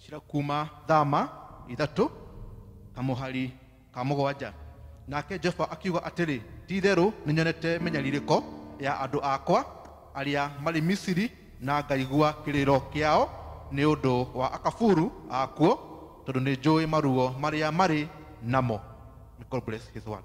cira kuma thama ithatũ na mũhari ka mũgwanja nake jehova akiuga atĩrĩ ti itherũ nĩ nyonete mĩnyarirĩko ya andũ akwa arĩa marĩ misiri na ngaigua kĩrĩro kĩao nĩ ũndũ wa akaburu akuo tondũ nĩ njũĩ maruo marĩa marĩ namo May God bless his word.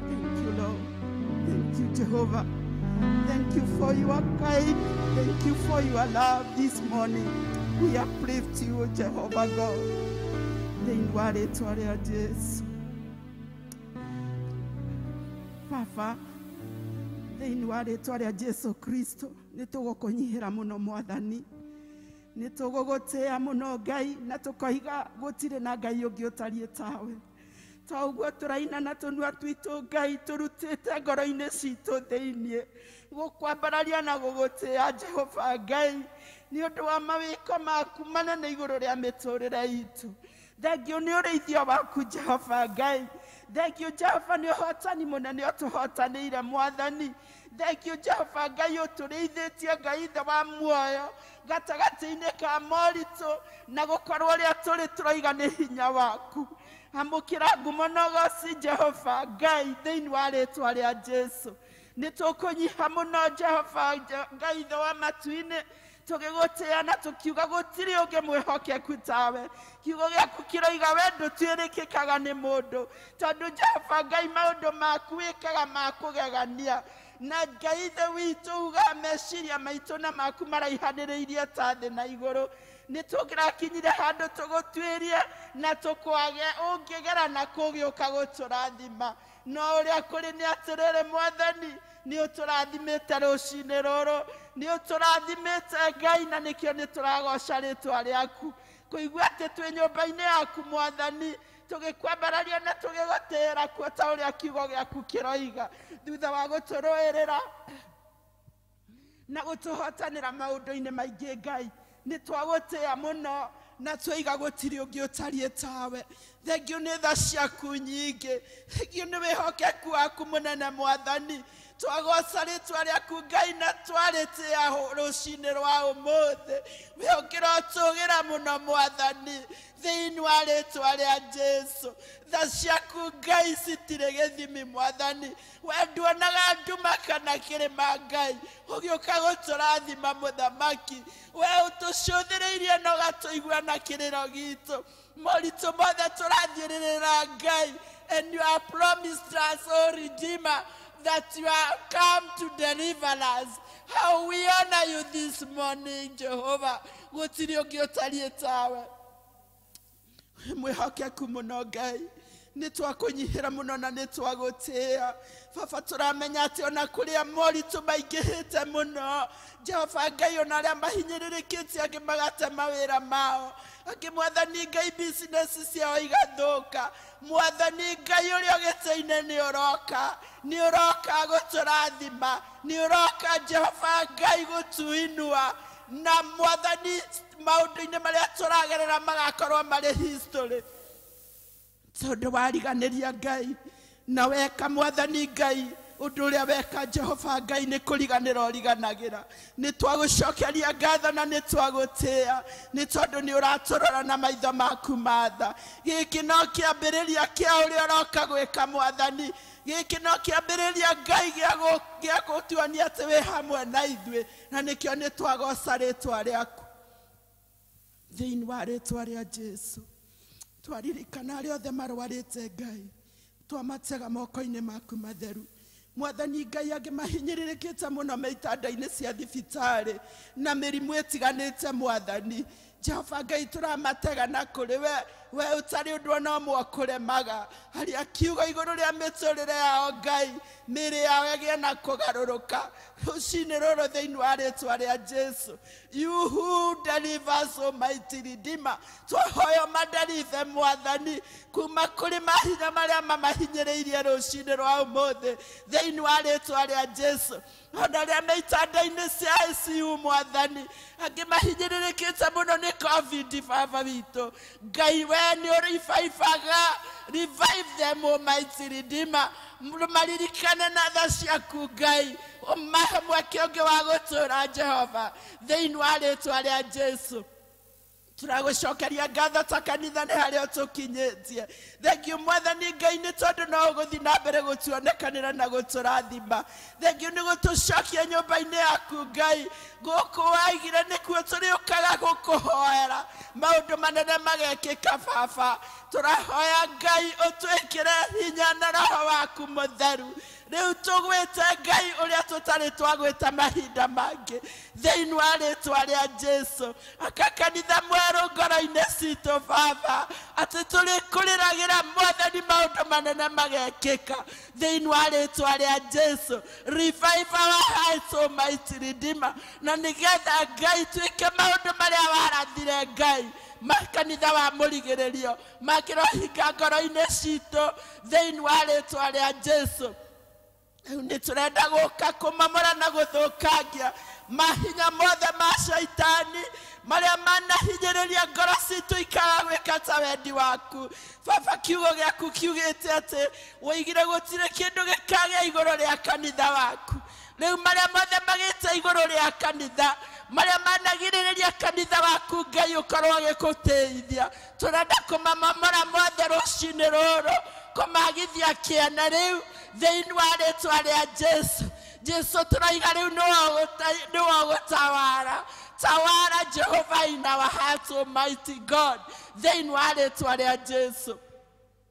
Thank you, Lord. Thank you, Jehovah. Thank you for your kind. Thank you for your love this morning. We uplift you, Jehovah God. Thainwa rĩtwa rĩa Jesu. Baba, thĩinĩ wa rĩtwa rĩa Jesu Kristo, nĩ tũgũkũnyihĩra mũno mwathani. Nĩ tũgũgũtĩa mũno Ngai na tũkoiga gũtirĩ na Ngai ũngĩ ũtariĩ tawe. to guo turaina na tunua twitu ngai turutite ngoro-ini citu thiini gukwambararia na gugutia jehova ngai ni undu wa mawiko maku manene iguru ria miturire itu thengiu ni urithio waku jehova ngai thengiu jehova ni uhotani munene utuhotanire mwathani Thengiũ Jehova Ngai ũtũrĩithĩtie, Ngai ithe wa muoyo, gatagatĩ-inĩ ka moritũ na gũkorwo ũrĩa tũrĩ tũroiga nĩ hinya waku. Amũkĩra ngumo na ũgoci Jehova Ngai thĩinĩ wa rĩtwa rĩa Jesu. Nĩ tũkũnyiha mũno Jehova Ngai ithe wa matu-inĩ, tũgĩgũtĩa na tũkiuga gũtirĩ ũngĩ mwĩhokeku tawe kiugo gĩaku kĩroiga we ndũtuĩrĩkĩkaga nĩ mũndũ tondũ jehova ngai maũndũ maku wĩkaga ma kũgegania na ngai thĩ witũ ugaga meciria maitũ na maku maraihanĩrĩirie ta thĩ na igũrũ nĩ tũrakinyire handũ tũgũtuĩrie na tũkwage ũngĩgera na kũgĩũka gũtũrathima No ũrĩa kũrĩ nĩ atĩrĩrĩ, Mwathani, nĩ ũtũrathimĩte rũcinĩ rũrũ, nĩ ũtũrathimĩte Ngai, na nĩkĩo nĩ tũragoca rĩtwa rĩaku. Kũigua atĩ twĩ nyũmba-inĩ yaku, Mwathani, tũgĩkwambararia na tũgĩgũtĩĩra kuo ta ũrĩa kiugo gĩaku kĩroiga, thutha wa gũtũrũĩrĩra na gũtũhotanĩra maũndũ-inĩ maingĩ ngai nĩ twagũtĩa mũno na twĩiga gũtirĩ ũngĩ ũtariĩ tawe thengiũ nĩ tha ciaku nyingĩ thengiũ nĩ wĩhokeku waku mũnene mwathani twagoca rĩtwa rĩaku ngai na twarĩtĩa hũ- rũcinĩ rwa ũmũthĩ we ũkĩrotũgĩra mũno mwathani thĩinĩ wa rĩtwa rĩa jesu tha ciaku ngai citirĩ gĩthimi mwathani we nduonaga nduma kana kĩrĩma ngai ũgĩũka gũtũrathima mũthamaki we ũtũcũthĩrĩirie na ũgatũigua na kĩrĩro gitũ moritũ mothe tũrathiĩrĩrĩra ngai and you are promised us o redeemer that you are come to deliver us how we honor you this morning jehovah gũtirĩ ũngĩ ũtariĩ tawe wĩ mwĩhokeku mũno ngai nĩ twakũnyihĩra mũno na nĩ twagũtĩa baba tũramenya atĩ ona kũrĩa moritũ maingĩhĩte mũno jehova ngai ona arĩa mahinyĩrĩrĩkĩtie angĩ magate mawĩra mao angĩ mwathani ngai bisinesi ciao igathũka mwathani ngai ũrĩa ũgĩtĩ-inĩ nĩ ũroka nĩ ũroka gũtũrathima nĩ ũroka jehova ngai gũtuinua na mwathani maũndũ-inĩ marĩa tũragerera magakorwo marĩ history tondũ wariganĩria ngai na weka mwathani ngai ũndũ ũrĩa weka jehova ngai nĩ kũriganĩra ũriganagĩra nĩ twagũcokeria ngatho na nĩ twagũtĩa nĩ tondũ nĩ ũratũrora na maitho maku matha gĩkĩ no kĩambĩrĩria kĩa ũrĩa ũroka gwĩka mwathani gĩkĩ no kĩambĩrĩria ngai gĩa gũ- gĩa gũtuonia atĩ wĩ hamwe na ithuĩ na nĩkĩo nĩ twagoca rĩtwa rĩaku thĩinĩ wa rĩtwa rĩa jesu twaririkana arĩa othe marwarĩte ngai twamatega moko-inĩ maku matheru mwathani ngai angĩ mahinyĩrĩrĩkĩte mũno me itanda-inĩ cia thibitarĩ na mĩrimũ ĩtiganĩte mwathani jehova ngai tũramatega na kũrĩ we we ũtarĩ ũndũ ona ũmwe ũkũremaga haria kiugo igũrũ rĩa mĩtũrĩre yao ngai mĩĩrĩ yao ĩgĩe na kũgarũrũka rũcinĩ rũrũ thĩinĩ wa rĩtwa rĩa jesu you who delivers almighty redeemer twahoyo madarive mwathani kuma kũrĩ mahinya marĩa mamahinyĩrĩirie rũcinĩ rwa ũmũthĩ thĩinĩ wa rĩtwa rĩa jesu O na arĩa me itanda-inĩ cia ICU, Mwathani, angĩ mahinyĩrĩrĩkĩte mũno nĩ Covid, Baba witũ, Ngai wee nĩ ũrĩibaibaga, revive them Almighty Redeemer, maririkane na tha ciaku Ngai, ũmahe mweke ũngĩ wa gũtũũra Jehova, thĩinĩ wa rĩtwa rĩa Jesu. tũragũcokeria ngatho ta kanitha nĩ harĩa ũtũkinyĩtie thengiũ mwathani ngai nĩ tondũ no ũgũthiĩ na mbere gũtuonekanĩra na gũtũrathima thengiũ nĩ gũtũcokia nyũmba-inĩ yaku ngai gũkũ waigire nĩkuo tũrĩũkaga gũkũhoera maũndũ manene magekĩka baba tũrahoya ngai ũtwĩkĩre hinya na roho waku mũtheru Rĩu tũgwĩte Ngai ũrĩa tũtarĩ twagwĩta mahinda mangĩ thĩinĩ wa rĩtwa rĩa Jesu aka kanitha mwerũ ngoro-inĩ citũ Baba atĩ tũrĩkũrĩragĩra mwathani maũndũ manene magekĩka thĩinĩ wa rĩtwa rĩa Jesu revive our hearts almighty redeemer na nĩgetha Ngai twĩke maũndũ marĩa warathire Ngai makanitha wa mũrigĩrĩrio makĩrohinga ngoro-inĩ citũ thĩinĩ wa rĩtwa rĩa jesu rĩu nĩ tũrenda gũka kũmamora na gũthũkangia mahinya mothe ma caitani marĩa manahinyĩrĩria ngoro citũ ikaga gwĩka ta wendi waku baba kiugo gĩaku kiugĩte atĩ woigire gũtirĩ kĩndũ gĩkagĩa igũrũ rĩa kanitha waku rĩu marĩa mothe magĩte igũrũ rĩa kanitha marĩa managirĩrĩria kanitha waku ngai ũkorwo ũgĩkũteithia Tũrenda kũmamomora mothe rũcinĩ rũrũ, kũmagithia kĩene rĩu thĩinĩ wa rĩtwa rĩa Jesu. Jesu tũroiga rĩu nĩwe ũgũte- nĩwe ũgũtawara. Tawara Jehova in our hearts, Almighty God, thĩinĩ wa rĩtwa rĩa Jesu.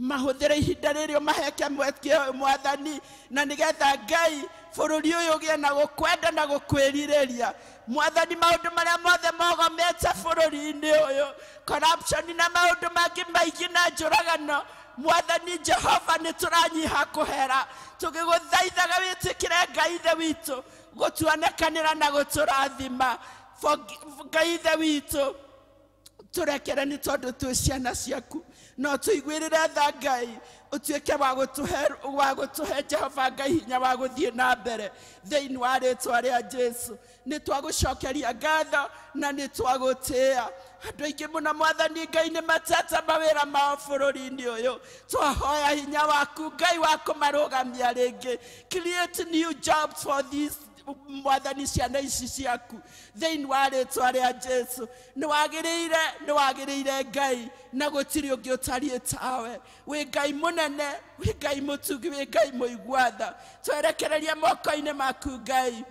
mahũthĩre ihinda rĩrĩ ũmaheke mweke ũyũ mwathani na nĩgetha ngai bũrũri ũyũ ũgĩe na gũkwenda na gũkwĩrirĩria mwathani maũndũ marĩa mothe mogomete bũrũri-inĩ ũyũ corruption na maũndũ mangĩ maingĩ na njũragano mwathani jehova nĩ tũranyiha kũhera tũgĩgũthaithaga wĩtĩkĩre ngai ithe witũ gũtuonekanĩra na gũtũrathima Forgi- ngai ithe witũ tũrekere nĩ tondũ twĩ ciana ciaku no tũiguĩrĩre tha ngai ũtuĩke wa gũtũhe wa gũtũhe jehova ngai hinya wa gũthiĩ na mbere thĩinĩ wa rĩtwa rĩa jesu nĩ twagũcokeria ngatho na nĩ twagũtĩa andũ aingĩ mũno mwathani ngai nĩ matete mawĩra mao bũrũri-inĩ ũyũ twahoya hinya waku ngai wa kũmarũgamia rĩngĩ create new jobs for these mwathani ciana ici ciaku thĩinĩ wa rĩtwa rĩa jesu nĩ wagĩrĩire nĩ wagĩrĩire ngai na gũtirĩ ũngĩ ũtariĩ tawe wĩ ngai mũnene wĩ ngai mũtungi wĩ ngai mũiguatha twerekereria moko-inĩ maku ngai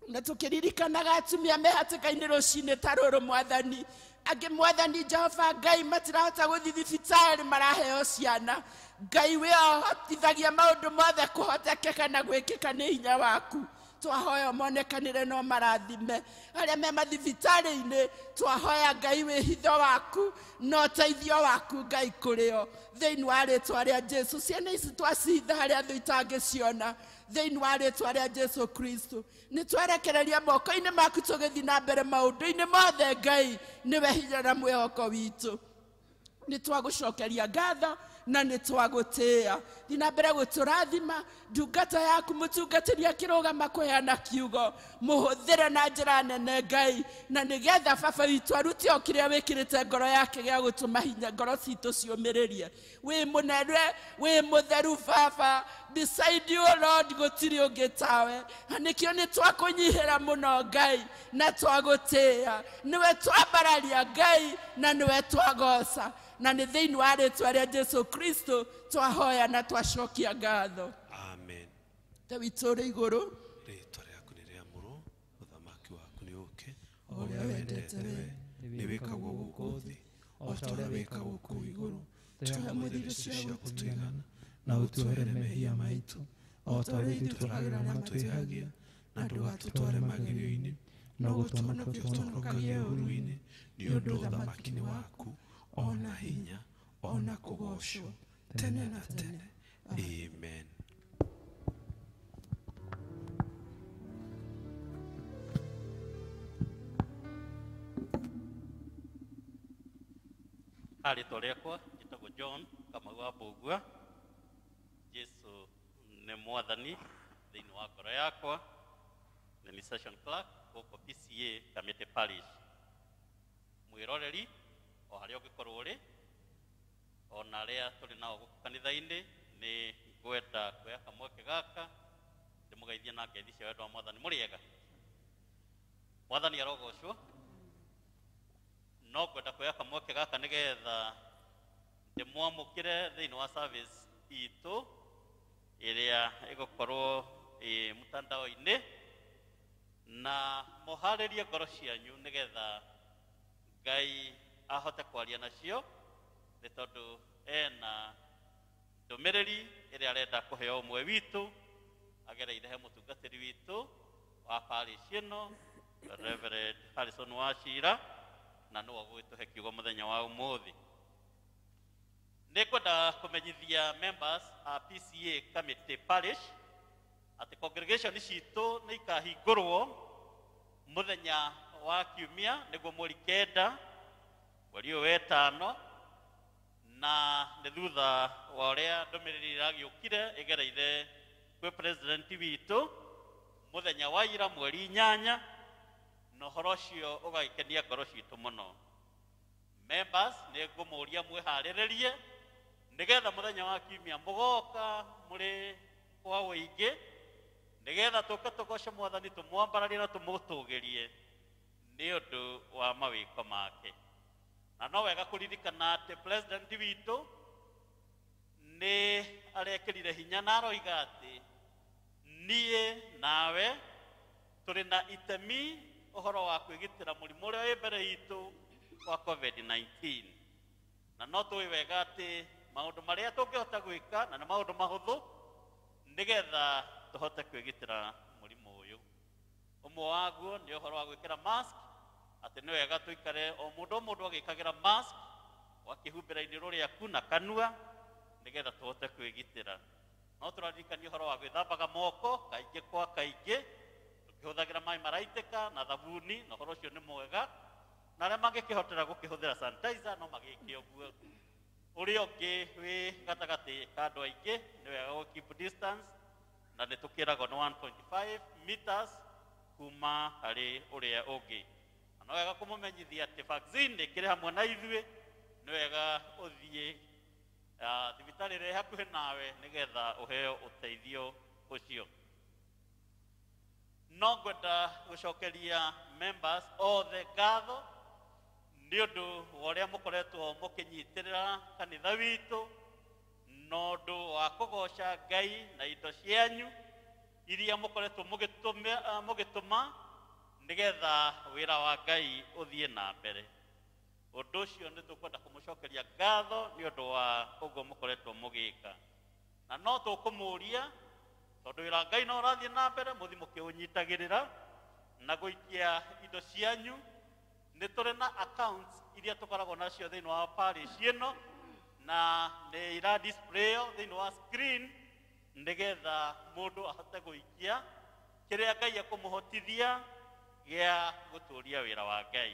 na tũkĩririkanaga atumia me hatĩka-inĩ rũcinĩ ta rũrũ mwathani angĩ mwathani jehova ngai matirahota gũthiĩ thibitarĩ maraheo ciana ngai wĩ ohotithagia maũndũ mothe kũhotekeka na gwĩkĩka nĩ hinya waku twahoya monekanĩre no marathime arĩa me mathibitarĩ-inĩ twahoya ngai wĩhitho waku na ũteithio waku ngai kũrĩo thĩinĩ wa rĩtwa rĩa jesu ciana ici twacihitha harĩa thũ itangĩciona thĩinĩ wa rĩtwa rĩa jesu kristo Nĩ twerekereria moko-inĩ maku tũgĩthiĩ na mbere maũndũ-inĩ mothe Ngai nĩwe hinya na mwĩhoko witũ. Nĩ twagũcokeria ngatho na nĩ twagũtĩĩa. Thiĩ na mbere gũtũrathima ndungata yaku mũtungatĩri akĩrũgama kũheana kiugo mũhũthĩre na njĩra nene Ngai na nĩgetha baba witũ arute o kĩrĩa wĩkĩrĩte ngoro yake gĩa gũtũma hinya ngoro citũ ciũmĩrĩrie wĩ mũnene wĩ mũtheru baba beside you lord gũtirĩ ũngĩ tawe na nĩkĩo nĩ twakũnyihĩra mũno ngai na twagũtĩĩa nĩwe twambararia ngai na nĩwe twagoca na nĩ thĩinĩ wa rĩtwa rĩa jesu kristo twahoya na twacokia ngatho amen ta witũ ũrĩ igũrũ ũthamaki waku nĩ ũke o ũrĩa wendete we nĩ wĩkagwo gũkũ thĩ o ta ũrĩa wĩkagwo kũu igũrũ tũhe mũthithũ cia gũtũigana na ũtuohere mehia maitũ o ta ũrĩa ithuĩ tũragĩra na twĩhagia na ndũgatũtware magerio-inĩ no gũtũhonokia ũtũhonokagie ũru-inĩ nĩ ũndũ ũthamaki nĩ waku o na hinya o na kũgoocwo tene na tene amen arĩtwa rĩakwa njĩtagwo john kamagwa mbũgua jesu nĩ mwathani thĩinĩ wa ngoro yakwa na nĩ session clerk gũkũ pca kamĩtĩ parish mwĩroreri o harĩa ũngĩkorwo ũrĩ ona arĩa tũrĩ nao gũkũ kanitha-inĩ nĩ ngwenda kuoya kamweke gaka ndĩmũgeithie na ngeithi cia wendo wa mwathani mũrĩega mwathani arogocwo no ngwenda kuoya kamweke gaka nĩgetha ndĩmwamũkĩre thĩinĩ wa service itũ ĩrĩa ĩgũkorwo ĩ mũtandao-inĩ na mũharĩrie ngoro cianyu nĩgetha ngai ahote kwaria nacio nĩ tondũ ena ndũmĩrĩri ĩrĩa arenda kũhe o ũmwe witũ agereire he mũtungatĩri witũ wa parish ĩno Reverend Harrison Wachira na nĩwe ũgũgĩtũhe kiugo mũthenya wa ũmũthĩ nĩ kwenda kũmenyithia members a PCA committee parish atĩ congregation citũ nĩ ikahingũrwo mũthenya wa kiumia nĩguo mweri kenda mweri ũyũ wetano na nĩ thutha wa ũrĩa ndũmĩrĩri ĩragĩũkire ĩgereire kwĩ president witũ mũthenya wa ira mweri inyanya na ũhoro ũcio ũgagĩkenia ngoro citũ mũno members nĩ ngũmũria mwĩharĩrĩrie nĩgetha mũthenya wa kiumia mũgoka mũrĩ kwa ũingĩ nĩgetha tũke tũgoce mwathani tũmwambararie na tũmũtũgĩrie nĩ ũndũ wa mawĩko make na no wega kũririkana atĩ president witũ nĩ arekĩrire hinya na aroiga atĩ niĩ nawe tũrĩ na itemi ũhoro wa kwĩgitĩra mũrimũ ũrĩa wĩ mbere itũ wa covid-19 na no tũĩ wega atĩ maũndũ marĩa tũngĩhota gwĩka na nĩ maũndũ mahũthũ nĩgetha tũhote kwĩgitĩra mũrimũ ũyũ ũmwe waguo nĩ ũhoro wa gwĩkĩra mask atĩ nĩ wega tũikare o mũndũ o mũndũ agĩkagĩra mask wakĩhumbĩra iniũrũ rĩaku na kanua nĩgetha tũhote kwĩgitĩra no tũraririkania ũhoro wa gwĩthambaga moko kaingĩ kwa kaingĩ tũkĩhũthagĩra maĩ maraitĩka na thabuni na ũhoro ũcio nĩ mwega na arĩa mangĩkĩhotera gũkĩhũthĩra sanitizer no magĩke ũguo ũrĩa ũngĩ wĩ gatagatĩ ka andũ aingĩ nĩ wega gũ keep distance na nĩ tũkĩragwo nĩ 1.5 meters kuma harĩ ũrĩa ũngĩ na no wega kũmũmenyithia atĩ vaccine nĩ ĩkĩrĩ hamwe na ithuĩ nĩ wega ũthiĩ ah, thibitarĩ ĩrĩa ĩ hakuhĩ nawe nĩgetha ũheo ũteithio ũcio no ngwenda gũcokeria members othe ngatho nĩ ũndũ wa ũrĩa mũkoretwo mũkĩnyitĩrĩra kanitha witũ na ũndũ wa kũgoca ngai na indo cianyu iria mũkoretwo mũgĩtũmĩ- ah, mũgĩtũma nĩgetha wĩra wa ngai ũthiĩ na mbere ũndũ ũcio nĩ tũkwenda kũmũcokeria ngatho nĩ ũndũ wa ũguo mũkoretwo mũgĩka na no tũkũmũria tondũ wĩra ngai no ũrathiĩ na mbere mũthi mũkĩũnyitagĩrĩra na gũikia indo cianyu nĩ tũrĩ na accounts iria tũkoragwo nacio thĩinĩ wa parish ĩno na nĩ ira displayo thĩinĩ wa screen nĩgetha mũndũ ahote gũikia kĩrĩa ngai ekũmũhotithia gĩa gũtũria wĩra wa ngai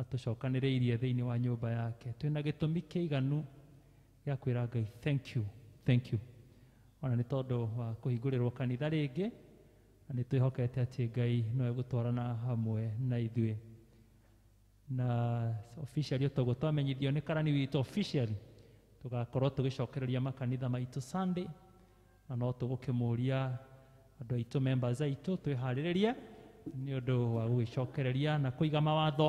Atũcokanĩrĩirie thĩinĩ wa nyũmba yake. Twĩ na gĩtũmi kĩiganu gĩa kwĩra Ngai thank you, thank you. O na nĩ tondũ wa kũhingũrĩrwo kanitha rĩngĩ, na nĩ twĩhokete atĩ Ngai no egũtwarana hamwe na ithuĩ. Na officially o ta ũguo twamenyithio nĩ karani witũ officially, tũgakorwo tũgĩcokereria makanitha maitũ Sunday, na no tũgũkĩmũria andũ aitũ members aitũ twĩharĩrĩrie nĩ ũndũ wa gũgĩcokereria na kũiga mawatho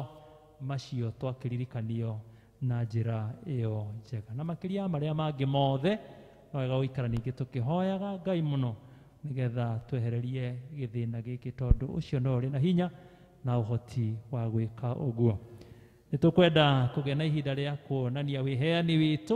macio twakĩririkanio na njĩra ĩyo njega na makĩria ya marĩa mangĩ mothe no wega gũikara ningĩ tũkĩhoyaga ngai mũno nĩgetha twehererie gĩthĩna gĩkĩ tondũ ũcio no ũrĩ na hinya na ũhoti wa gwĩka ũguo nĩ tũkwenda kũgĩa na ihinda rĩa kuonania wĩheani witũ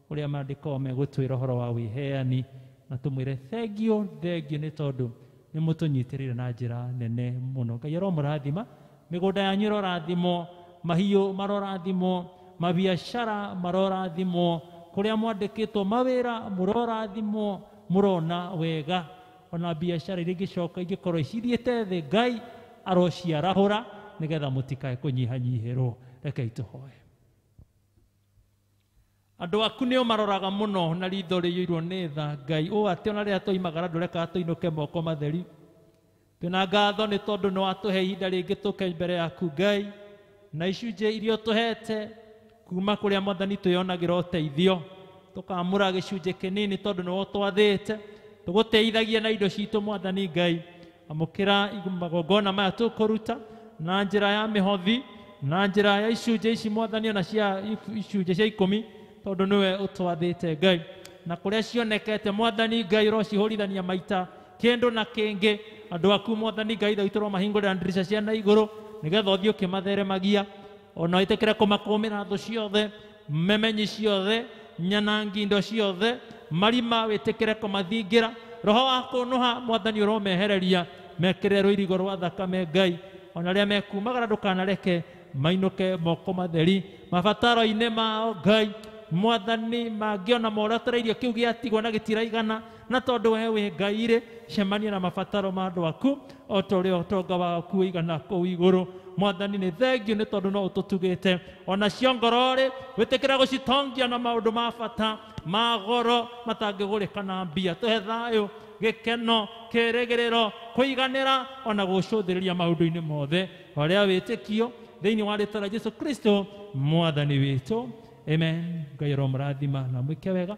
ũrĩa Maandĩko megũtwĩra ũhoro wa wĩheani, na tũmwĩre, Thengiũ, thengiũ nĩ tondũ nĩ mũtũnyitĩrĩire na njĩra nene mũno. Ngai aromũrathima, mĩgũnda yanyu ĩrorathimwo, mahiũ marorathimwo, mabiacara marorathimwo, kũrĩa mwandĩkĩtwo mawĩra mũrorathimwo, mũrona wega, o na biacara iria ingĩcoka ingĩkorwo cithiĩte thĩ, Ngai arociarahũra, nĩgetha mũtikae kũnyihanyihĩrwo. Rekei tũhoe. Andũ aku nĩ ũmaroraga mũno na ritho rĩiyũirwo nĩ tha, Ngai, ũũ atĩ o na rĩrĩa twoimagara ndũrekaga tũinũke moko matheri. Twĩ na ngatho nĩ tondũ nĩ watũhe ihinda rĩngĩ tũke mbere yaku, Ngai, na icunjĩ iria ũtũhete kuuma kũrĩa Mwathani twĩyonagĩra ũteithio. Tũkamũra gĩcunjĩ kĩnini tondũ nĩ we ũtwathĩte, tũgũteithagie na indo citũ, Mwathani Ngai. amũkĩra magongona maya tũkũruta na njĩra ya mĩhothi na njĩra ya icunjĩ ici mwathani ona cia if- icunjĩ cia ikũmi tondũ nĩwe ũtwathĩte ngai na kũrĩa cionekete mwathani ngai ũrocihũrithania maita kĩndũ na kĩngĩ andũ aku mwathani ngai thau tũromahingũrĩra ndirica cia na igũrũ nĩgetha ũthiĩ ũkĩmatheremagia ona wĩtĩkĩre kũmakũmĩra thũ ciothe Memenyi ciothe, nyanangi indo ciothe, marima wĩtĩkĩre kũmathingira, roho wa kũnũha mwathani ũromehereria, mekĩrĩre rũirigo rwa thakame Ngai, ona rĩrĩa mekumagara ndũkanareke mainũke moko matheri, mabataro-inĩ mao Ngai, mwathani mangĩona moratereirio kĩu gĩatigwo na gĩtiraigana, Na tondũ wee wĩ Ngai-rĩ, cemania na mabataro ma andũ aku, o ta ũrĩa ũtonga waku ũigana kũu igũrũ. Mwathani, nĩ thengiũ nĩ tondũ no ũtũtugĩte. O nacio ngoro-rĩ, wĩtĩkĩra gũcitongia na maũndũ ma bata, ma goro, matangĩgũrĩka na mbia. Tũhe thayũ, gĩkeno, kĩĩrĩgĩrĩro, kũiganĩra, o na gũgũcũthĩrĩria maũndũ-inĩ mothe. Horea wĩtĩkio thĩinĩ wa rĩĩtwa rĩa Jesu Kristo, Mwathani witũ. Amen. Ngai aromũrathima na amwĩke wega.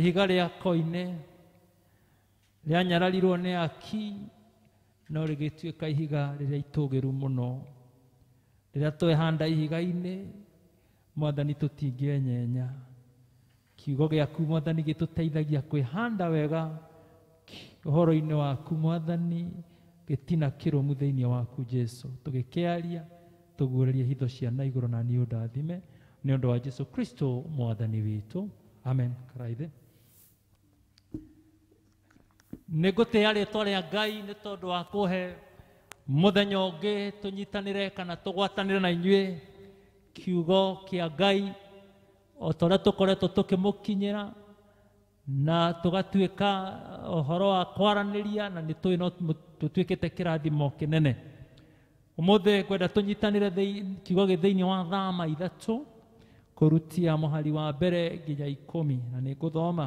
ihiga rĩa koine rĩanyararirwo nĩ aki no rĩgĩtuĩka ihiga rĩrĩa itũgĩru mũno rĩrĩa twehanda ihiga-inĩ mwathani tũtingĩenyenya Kiugo gĩaku Mwathani gĩtũteithagia kwĩhanda wega ũhoro-inĩ waku Mwathani, gĩtina kĩrũmu thĩinĩ waku Jesu, tũgĩkĩaria tũguũrĩrie hitho cia na igũrũ na niĩ ũndathime nĩ ũndũ wa Jesu Kristo Mwathani witũ. Amen. Karaithi. Nĩ ngũtĩa rĩtwa rĩa Ngai nĩ tondũ wa kũhe mũthenya ũngĩ tũnyitanĩre kana tũgwatanĩre na inyuĩ kiugo kĩa Ngai o ta ũrĩa tũkoretwo tũkĩmũkinyĩra na tũgatuĩka ũhoro wa kwaranĩria na nĩ tũĩ no tũtuĩkĩte kĩrathimo kĩnene ũmũthĩ ngwenda tũnyitanĩre kiugo gĩ thĩinĩ wa thama ithatũ kũrutia mũhari wa mbere nginya ikũmi na nĩ ngũthoma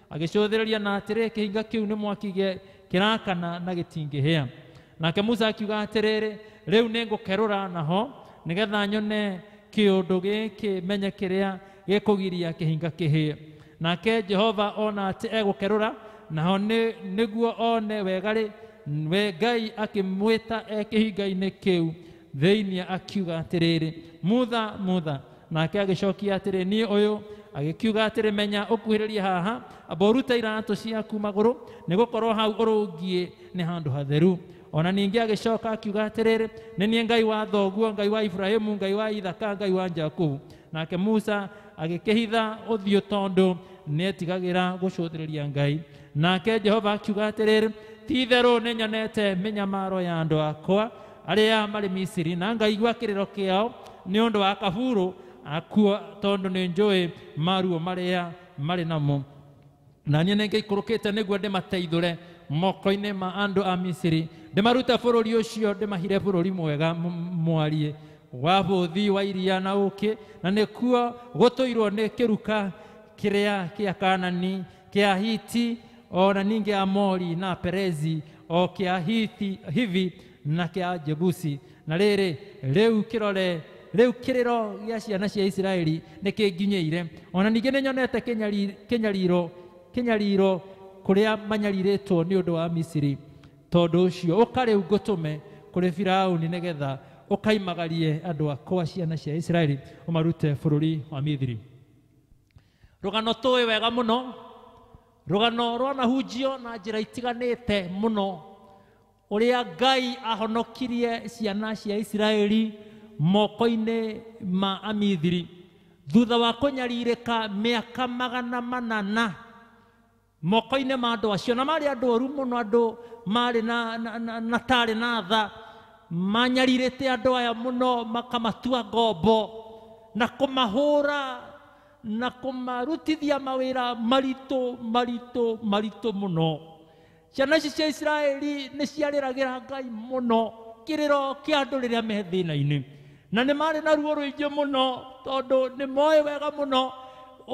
agĩcũthĩrĩria na atĩrĩ kĩhinga kĩu nĩ mwaki gĩ- kĩrakana na gĩtingĩhĩa nake musa akiuga atĩrĩrĩ rĩu nĩ ngũkerũra naho nĩgetha nyone kĩũndũ gĩkĩ menye kĩrĩa gĩkũgiria kĩhinga kĩhĩe nake jehova ona atĩ egũkerũra naho nĩ- nĩguo one wega rĩ we ngai akĩmwĩta e kĩhinga-inĩ kĩu Thĩinĩ akiuga atĩrĩrĩ, Mutha, mutha. Nake agĩcokia atĩrĩ, Niĩ ũyũ. Agĩkiuga atĩrĩ, Menya ũkuhĩrĩrie haha, amba ũrute iratũ ciaku magũrũ, nĩ gũkorwo hau ũrũngiĩ nĩ handũ hatheru. O na ningĩ agĩcoka akiuga atĩrĩrĩ, Nĩ niĩ Ngai wa thoguo, Ngai wa Iburahimu, Ngai wa Ithaka, Ngai wa Jakubu. Nake Musa agĩkĩhitha ũthiũ tondũ nĩetigagĩra gũcũthĩrĩria Ngai. Nake Jehova akiuga atĩrĩrĩ, Ti-itherũ nĩnyonete mĩnyamaro ya andũ akwa, arĩa marĩ misiri na ngaigua kĩrĩro kĩao nĩ ũndũ wa kaburu akuo tondũ nĩ njũĩ maruo marĩa marĩ namo na niĩ nĩngĩikũrũkĩte nĩguo ndĩmateithũre moko-inĩ ma andũ a misiri ndĩmarute bũrũri ũcio ndĩmahire bũrũri mwega m- mwariĩ wa bũthi wa iria na ũkĩ na nĩkuo gũtũirwo nĩ kĩruka kĩrĩa kĩa kanani kĩa Ahiti o na ningĩ Amori na Perezi o kĩa Hithi, Hivi na kĩa Jebusi. Na rĩrĩ, rĩu kĩrore rĩu kĩrĩro gĩa ciana cia Isiraeli nĩ kĩnginyĩire, o na ningĩ nĩ nyonete kĩnyari- kĩnyariro kĩnyariro kũrĩa manyarirĩtwo nĩ ũndũ wa Misiri. Tondũ ũcio ũka rĩu ngũtũme kũrĩ Firauni nĩgetha ũkaimagarie andũ akwa ciana cia Isiraeli ũmarute bũrũri wa Misiri. Rũgano tũĩ wega mũno, rũgano rwanahunjio na njĩra itiganĩte mũno, ũrĩa Ngai ahonokirie ciana cia Isiraeli moko-inĩ ma Amithiri thutha wa kũnyarirĩka mĩaka magana manana Moko-inĩ ma andũ acio, na maarĩ andũ oru mũno, andũ maarĩ na, na, na, na taarĩ na tha, manyarirĩte andũ aya mũno, makamatua ngombo na kũmahũra na kũmarutithia mawĩra maritũ maritũ maritũ mũno. Ciana ici cia Isiraeli nĩ ciarĩragĩra Ngai mũno kĩrĩro kĩa andũ rĩrĩa me thĩna-inĩ. Na nĩ maarĩ na ruo rũingĩ mũno, tondũ nĩ mooĩ wega mũno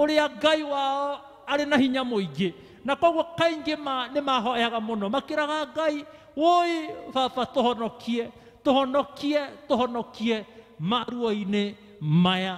ũrĩa Ngai wao arĩ na hinya mũingĩ. Na kwoguo kaingĩ ma, nĩ mahoyaga mũno, makĩraga Ngai, Wũi, Baba, tũhonokie, tũhonokie, tũhonokie maruo-inĩ maya.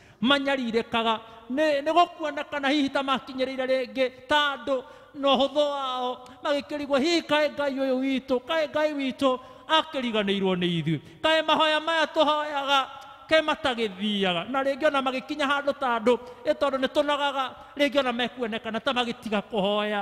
manyarirĩkaga nĩ nĩ gũkuonekana hihi ta makinyĩrĩire rĩngĩ ta andũ na ũhũthũ wao magĩkĩrigwo hihi kaĩ ngai ũyũ witũ kaĩ ngai witũ akĩriganĩirwo nĩ ithuĩ kaĩ mahoya maya tũhoyaga ke matagĩthiaga na rĩngĩ ona magĩkinya handũ ta andũ ĩ tondũ nĩ tũnogaga rĩngĩ ona mekuonekana ta magĩtiga kũhoya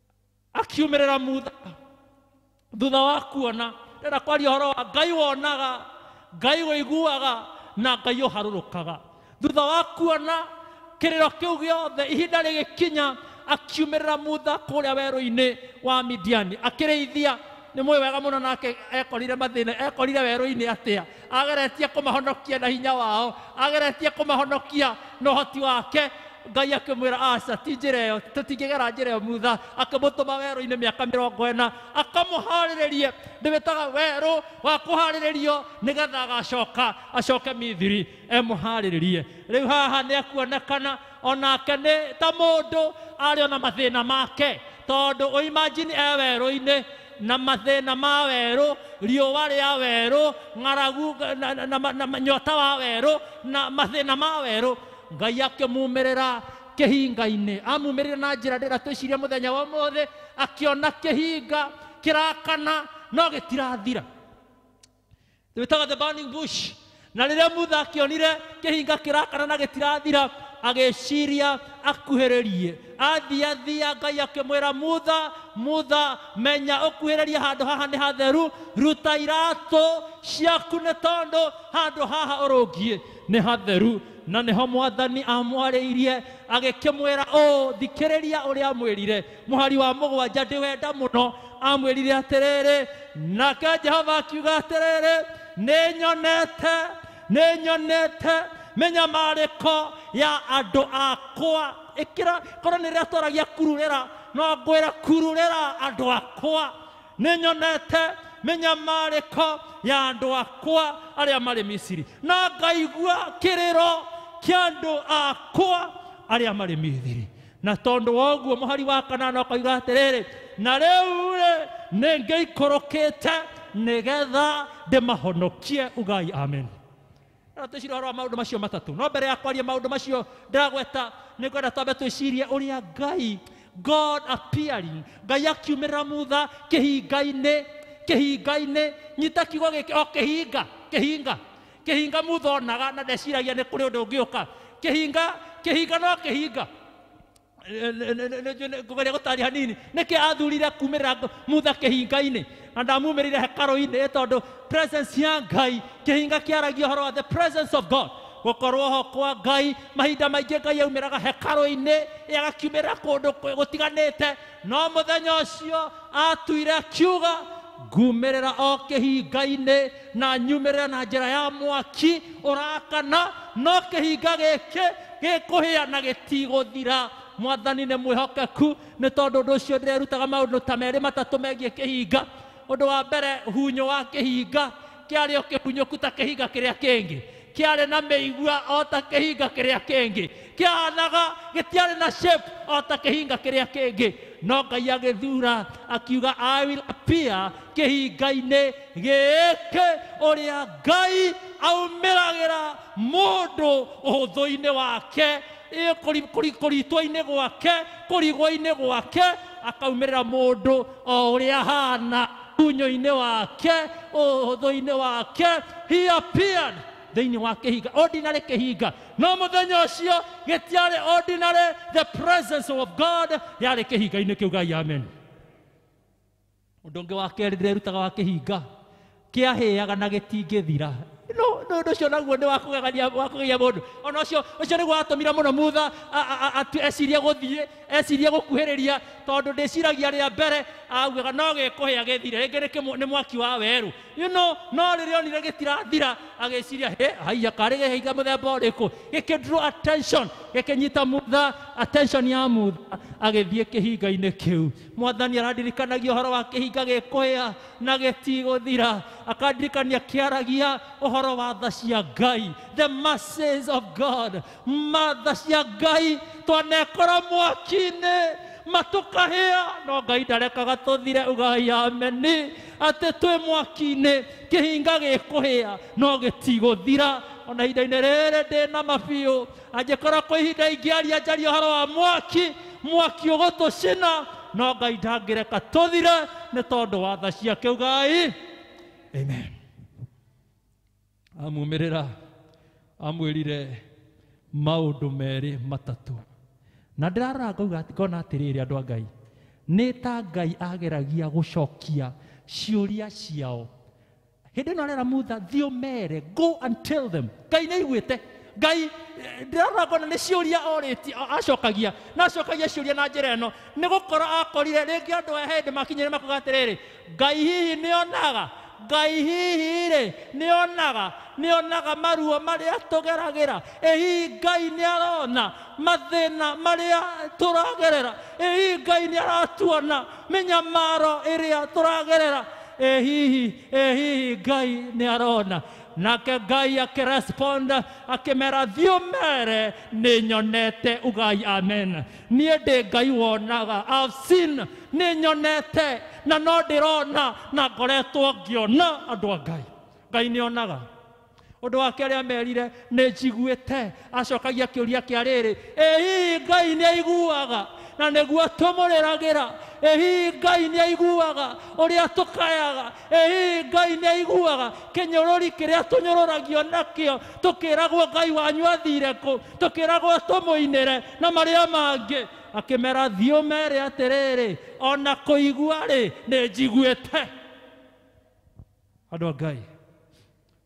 akiumĩrĩra mutha thutha wa kuona ndĩrenda kwaria ũhoro wa ngai wonaga ngai ũiguaga na ngai ũharũrũkaga thutha wa kuona kĩrĩro kĩu gĩothe ihinda rĩgĩkinya akiumĩrĩra mutha kũrĩa werũ-inĩ wa midiani akĩrĩithia nĩ mũĩ wega mũno nake ekorire mathĩna ekorire werũ-inĩ atĩa Ageretie kũmahonokia na hinya wao, ageretie kũmahonokia na ũhoti wake. Ngai akĩmwĩra aca, ti njĩra ĩyo, tũtingĩgera njĩra ĩyo Musa. Akĩmũtũma werũ-inĩ mĩaka mĩrongo ĩna, akamũharĩrĩrie. Ndĩwĩtaga werũ wa kũharĩrĩrio nĩgetha agacoka, acoke Mithiri, emũharĩrĩrie. Rĩu haha nĩ ekuonekana o nake nĩ ta mũndũ arĩ o na mathĩna make tondũ ũimajini e werũ-inĩ na mathĩna ma werũ riũa rĩa werũ ng'aragu na, na, na, na, na nyota wa werũ na mathĩna ma werũ ngai akĩmumĩrĩra kĩhinga-inĩ amumĩrĩra na njĩra ndĩra twĩciria mũthenya wa ũmũthĩ akĩona kĩhinga kĩrakana no gĩtirathira They were talking about the burning bush. Na rĩrĩa Mutha akĩonire kĩhinga kĩrakana na gĩtirathira, agĩciria akuhĩrĩrie. Athia thia Ngai akĩmwĩra Mutha, Mutha, menya ũkuhĩrĩrie handũ haha nĩ hatheru, ruta iratũ ciaku nĩ tondũ handũ haha ũrũngiĩ nĩ hatheru. Na nĩho mwathani amwarĩirie agĩkĩmwĩra ũũ, thikĩrĩria ũrĩa amwĩrire, mũhari wa mũgwanja ndĩwenda mũno amwĩrire atĩrĩrĩ nake jehova akiuga atĩrĩrĩ nĩnyonete nĩnyonete mĩnyamarĩko ya andũ akwa ĩkĩra korwo nĩ rĩrĩa twaragia kururĩra no ngwĩra kururĩra andũ akwa nĩnyonete mĩnyamarĩko ya andũ akwa arĩa marĩ misiri na ngaigua kĩrĩro kĩa andũ akwa arĩa marĩ mithiri na tondũ wa ũguo mũhari wa kanana ũkoiga atĩrĩrĩ na rĩu-rĩ nĩ ngĩikũrũkĩte nĩgetha ndĩmahonokie ugai amen na twĩcirie ũhoro wa maũndũ macio matatũ no mbere ya kwaria maũndũ macio ndĩragweta nĩ ngwenda twambe twĩcirie ũrĩa ngai god appearing ngai akiumĩrĩra mutha kĩhinga-inĩ kĩhinga-inĩ nyita kiugo gĩkĩ o kĩhinga kĩhinga kĩhinga muthonaga na ndeciragia nĩ kũrĩ ũndũ ũngĩũka kĩhinga kĩhinga no kĩhinga ngũgeria gũtaria hanini nĩkĩ athurire kumĩrĩra ngo- mutha kĩhinga-inĩ na ndamumĩrĩire hekarũ-inĩ ĩ tondũ presence ya ngai kĩhinga kĩaragia ũhoro wa the presence of god gũkorwo ho kwa ngai mahinda maingĩ ngai aumĩraga hekarũ-inĩ ĩ agakiumĩrĩra kũndũ kũ- gũtiganĩte No mũthenya ũcio aatuire akiuga, ngumĩrĩra o kĩhinga-inĩ na nyumĩrĩra na njĩra ya mwaki ũrakana, no kĩhinga gĩkĩ gĩkũhĩa na gĩtigũthira. Mwathani nĩ mwĩhokeku, nĩ tondũ ũndũ ũcio ndĩrerutaga maũndũ ta merĩ matatũ megiĩ kĩhinga. Ũndũ wa mbere, hunyũ wa kĩhinga kĩarĩ o kĩmunyũku ta kĩhinga kĩrĩa kĩngĩ kĩarĩ na mĩigua o ta kĩhinga kĩrĩa kĩngĩ kĩahanaga gĩtiarĩ na shape o ta kĩhinga kĩrĩa kĩngĩ no ngai agĩthura akiuga i will appear kĩhinga-inĩ gĩkĩ ũrĩa ngai aumĩragĩra mũndũ ũhũthũ-inĩ wake ĩ- kũri- kũri- kũritwo-inĩ gwake kũrigwo-inĩ gwake akaumĩrĩra mũndũ o ũrĩa ahana Unyo-inĩ wake, ũhũthũ-inĩ wake, he appeared thĩinĩ wa kĩhinga, ordinary kĩhinga. No mũthenya ũcio gĩtiarĩ ordinary, the presence of God yarĩ kĩhinga-inĩ kĩu gai amen. Ũndũ ũngĩ wa kerĩ ndĩrerutaga wa kĩhinga, kĩahĩaga na gĩtingĩthira no no no cio naguo nĩ wa kũgegania wa kũgegia mũndũ ona ũcio ũcio nĩguo watũmire mũno mutha a- a- a- atu- ecirie gũthiĩ Eciria gũkuhĩrĩria tondũ ndĩciragia rĩa mbere augaga no gĩkũhĩa gĩthire rĩngĩ nĩ kĩmwe- nĩ mwaki wa werũ you know, no rĩrĩa onire gĩtirathira agĩciria he haiya karĩ gĩhĩiga mũthemba ũrĩkũ gĩkĩdro attention gĩkĩnyita mutha attention ya mutha agĩthiĩ kĩhinga-inĩ kĩu mwathani arandirikanagia ũhoro wa kĩhinga gĩkũhĩa na gĩtigũthira akandirikania kĩaragia ũhoro wa tha cia ngai the mercies of god matha cia ngai twanekorwo mwaki-inĩ matũkahĩa no ngai ndarekaga tũthire ugai ameni atĩ twĩ mwaki-inĩ kĩhinga gĩkũhĩa no gĩtigũthira ona ihinda-inĩ rĩrĩ ndĩ na mabiũ angĩkorwo kwĩ ihinda ingĩaria njaria ũhoro wa mwaki mwaki ũgũtũcina no ngai ndangĩreka tũthire nĩ tondũ watha ciake ugai amen amumĩrĩra amwĩrire maũndũ merĩ matatũ na ndĩrarora ngauga ngona atĩrĩrĩ andũ a ngai nĩ ta ngai ageragia gũcokia ciũria ciao hĩndĩ ĩno arera mutha thiĩ ũmere go and tell them ngai nĩ aiguĩte ngai ndĩrarora ngona nĩ ciũria orĩti acokagia na acokagia ciũria na njĩra ĩno nĩ gũkorwo akorire rĩngĩ andũ aya hĩndĩ makinyire makuga atĩrĩrĩ Ngai hihi nĩ onaga? Ngai hihi-rĩ, nĩ onaga? Nĩ onaga maruo marĩa tũgeragĩra? Ĩ hihi Ngai nĩ arona mathĩna marĩa tũragerera? Ĩ hihi Ngai nĩ aratuona mĩnyamaro ĩrĩa tũragerera? Ĩ hihi, ĩ hihi Ngai nĩ arona? Nake Ngai akĩrespond akĩmera thiũmere nĩ nyonete ugai amen. niĩ ndĩ ngai wonaga I've seen nĩ nyonete na no ndĩrona na ngoretwo ngĩona andũ a ngai ngai nĩ onaga ũndũ wake arĩa merire nĩ njiguĩte acokagia kĩũria kĩa rĩrĩ ĩhihi ngai nĩ aiguaga na nĩguo tũmũrĩragĩra ĩhihi ngai nĩ aiguaga ũrĩa tũkayaga ĩĩ ngai nĩ aiguaga kĩnyũrũri kĩrĩa tũnyũrũragio nakĩo tũkĩragwo ngai wanyu athire kũ tũkĩragwo tũmũinĩre na marĩa mangĩ akĩmera thiĩ ũmere atĩrĩrĩ o na kũigua rĩ nĩ njiguĩte andũ a ngai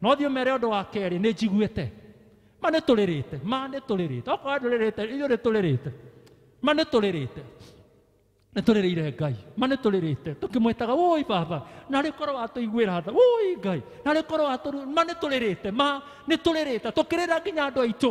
no thiĩ ũmere ũndũ wa kerĩ nĩ njiguĩte ma nĩ tũrĩrĩte ma nĩ tũrĩrĩte okorwo ndũrĩrĩte ithuĩ nĩ tũrĩrĩte ma nĩ tũrĩrĩte nĩ tũrĩrĩire ngai ma nĩ tũrĩrĩte tũkĩmwĩtaga wũi baba na rĩ korwo watũiguĩra tha wũi ngai na rĩ korwo watũru ma nĩ tũrĩrĩte ma nĩ tũrĩrĩte tũkĩrĩra nginya andũ aitũ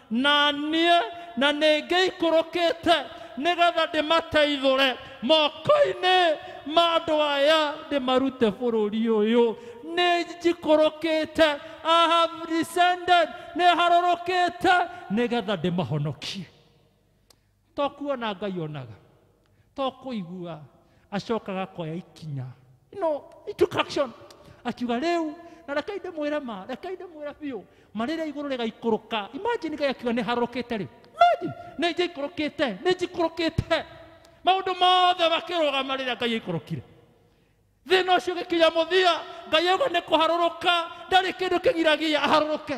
na niĩ na nĩ ngĩikũrũkĩte nĩgetha ndĩmateithũre moko-inĩ ma andũ aya ndĩmarute bũrũri ũyũ nĩ njikũrũkĩte I have descended nĩ harũrũkĩte nĩgetha ndĩmahonokie To kuona Ngai onaga. To kuigua acokaga koya ikinya. No introduction. Akiuga rĩu na reke inde mwĩre ma, reke inde mwĩre biũ. Ma rĩrĩa igũrũ rĩgaikũrũka. Imagine Ngai akiuga nĩ harũrũkĩte rĩu. Imagine nĩ njikũrũkĩte, nĩ njikũrũkĩte. Maũndũ mothe makĩrũgama rĩrĩa Ngai aikũrũkire. Thĩna ũcio ũgĩkinya mũthia, Ngai auga nĩ kũharũrũka, ndarĩ kĩndũ kĩgiragia aharũrũke.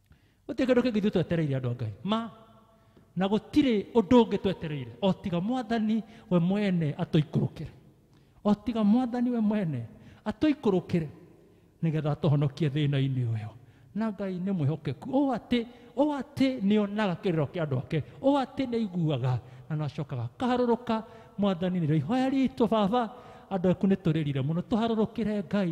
gũtirĩ kĩndũ kĩngĩ ithuĩ twetereire andũ a ngai ma na gũtirĩ ũndũ ũngĩ twetereire o tiga mwathani we mwene atũikũrũkĩre o tiga mwathani we mwene atũikũrũkĩre nĩgetha atũhonokie thĩna-inĩ ũyũ na ngai nĩ mwĩhokeku ũũ atĩ ũũ atĩ nĩ onaga kĩrĩro kĩa andũ ake ũũ atĩ nĩ aiguaga na nĩ acokaga kaharũrũka mwathani nĩrĩo ihoya ritũ baba andũ aku nĩ tũrĩrire mũno tũharũrũkĩre ngai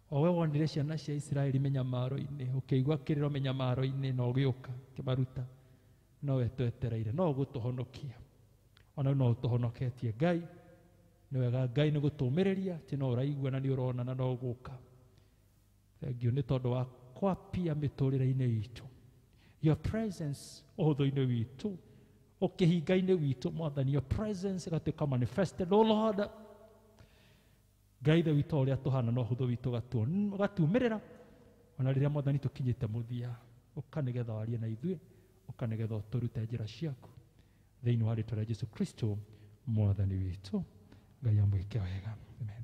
o we wonire ciana cia isiraeli mĩnyamaro-inĩ ũkĩigua kĩrĩro mĩnyamaro-inĩ na ũgĩũka kĩmaruta no we twetereire no ũgũtũhonokia o na no ũtũhonoketie ngai nĩ wega ngai nĩ gũtũmĩrĩria ti no ũraigua na nĩ ũrona na no ũgũka thengiũ nĩ tondũ wa kwapia mĩtũrĩre-inĩ itũ your presence ũhũthũ-inĩ witũ ũkĩhinga-inĩ witũ mwathani your presence ĩgatuĩka manifested o lord Ngai Ithe witũ o ũrĩa tũhana no hũthũ witũ ũgatuon- ũgatuumĩrĩra o na rĩrĩa Mwathani tũkinyĩte mũthia, ũka nĩ getha warie na ithuĩ, ũka nĩ getha ũtũrute njĩra ciaku, thĩinĩ wa rĩĩtwa rĩa Jesu Kristo Mwathani witũ. Ngai amwĩke wega. Amen.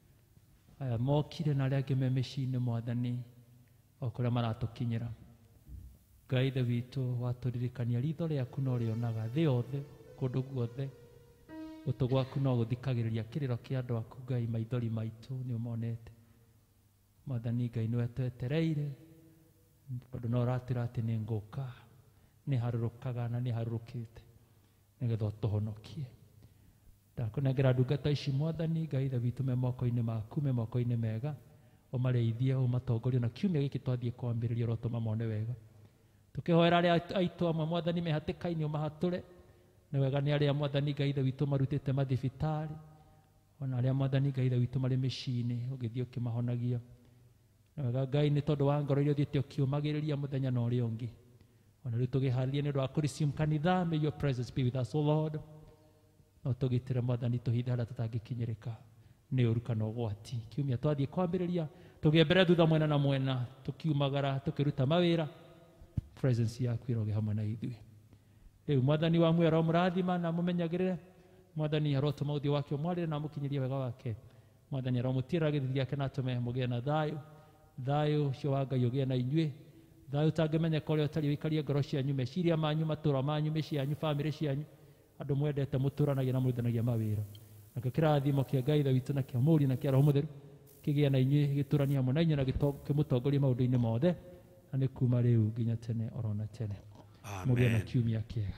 aya mokire na arĩa angĩ me mĩciĩ-inĩ mwathani o kũrĩa maratũkinyĩra ngai ithe witũ watũririkania ritho rĩaku no rĩonaga thĩ yothe kũndũ guothe gũtũ gwaku no gũthikagĩrĩria kĩrĩro kĩa andũ aku ngai maithori maitũ nĩ ũmonete mwathani ngai nĩwe twetereire tondũ no ũratwĩra atĩ nĩ ngũka nĩ harũrũkaga na nĩ harũrũkĩte nĩgetha ũtũhonokie Ndakũnengera ndungata ici, Mwathani, Ngai Ithe witũ, me moko-inĩ maku, me moko-inĩ mega, ũmarĩithie, ũmatongorie, ona kiumia gĩkĩ twathiĩ kwambĩrĩria ũrotũma mone wega. Tũkĩhoera arĩa aitũ amwe, Mwathani, me hatĩka-inĩ, ũmahatũre. Nĩ wega nĩ arĩa, Mwathani, Ngai Ithe witũ, ũmarutĩte mathibitarĩ, ona arĩa, Mwathani, Ngai Ithe witũ, marĩ mĩciĩ-inĩ, ũgĩthiĩ ũkĩmahonagia. Nĩ wega, Ngai, nĩ tondũ wa ngoro iria ũthiĩte ũkĩũmagĩrĩria mũthenya na ũrĩa ũngĩ. Ona rĩu tũgĩharĩria nĩ ũndũ wa kũ-resume kanitha, may your presence be with us, O Lord. No tũgitĩre Mwathani tũhithe harĩa tũtangĩkinyĩrĩka nĩ ũru kana ũgwati. Kiumia twathiĩ kwambĩrĩria, tũgĩe mbere thutha mwena na mwena, tũkiumagara, tũkĩruta mawĩra, presence yaku ĩroge hamwe na ithuĩ. Rĩu Mwathani wa muoyo aromũrathima na mũmenyagĩrĩre. Mwathani arotũma ũthiũ wake ũmwarĩre na amũkinyĩrie wega wake. Mwathani aromũtiĩra gĩthithi gĩake na atũme mũgĩe na thayũ. Thayũ ũcio wa Ngai ũgĩe na inyuĩ. Thayũ ũtangĩmenyeka ũrĩa ũtariĩ ũikarie ngoro cianyu, meciria manyu, matũũra manyu, mĩciĩ yanyu, famĩlĩ cianyu. Andũ mwendete mũtũũranagia na mũrutithanagia mawĩra. Nakĩo kĩrathimo kĩa Ngai Ithe witũ na kĩa Mũriũ na kĩa Roho Mũtheru kĩgĩe na inyuĩ gĩtũũranie hamwe na inyuĩ na kĩmũtongorie maũndũ-inĩ mothe na nĩ kuuma rĩu nginya tene o ro na tene. Mũgĩe na kiumia kĩega.